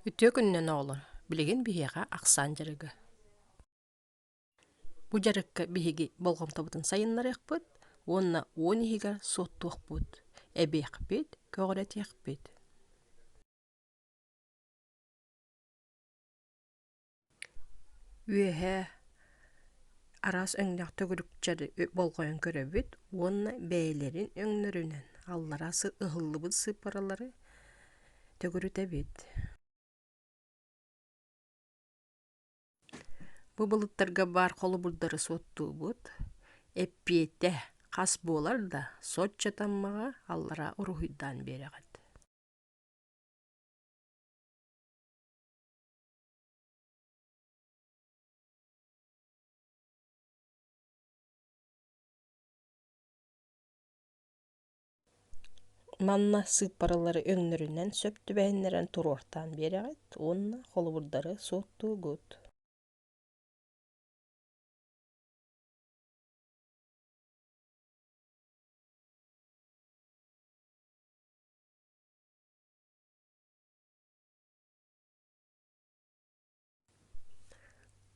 Үтүө күнүнэн, оҕолор! Билигин биһиэхэ ахсаан дьарыгы. Бу дьарыкка биһиги болҕомтобутун сайыннарыахпыт уонна уон иһигэр суоттуохпут, эбиэхпит, көҕүрэтиэхпит. Үөһээ араас өҥнөөх төгүрүкчэри болҕойон көрөбүт уонна бэйэлэрин өҥнөрүнэн аллараа ыһыллыбыт сыыппаралары төгүрүтэбит. Бу былыттарга баар холобурдары суоттуубут. Эппиэтэ хас буолар да соччо таммаҕа аллараа уруһуйдаан биэрэҕит. Манна сыыппаралары өҥнөрүнэн сөп түбэһиннэрэн туруортаан биэрэҕит уонна холобурдары суоттуугут.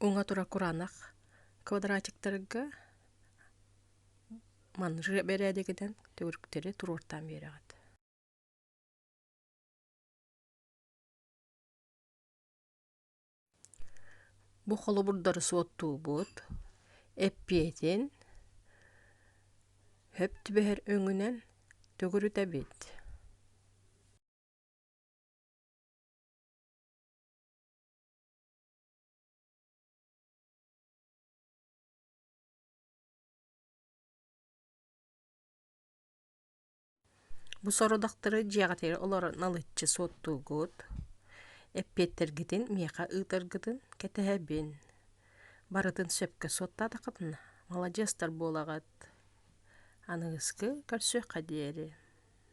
уҥа тура кураанах квадратиктарга манжия бэрээдэгинэн төгүрүктэри туруортаан биэрэҕит бу холобурдары суоттуубут эппиэтин хөп түбэһэр өҥүнэн төгүрүтэбит Бу сорудахтары дьиэҕитигэр олорон алыччы суоттуугут, эппиэттэргитин миэхэ ыытаргытын кэтэһэбин. Барытын сөпкө суоттаатаххытына, маладьыастар буолаҕыт. Аныгыскы көрсүөххэ диэри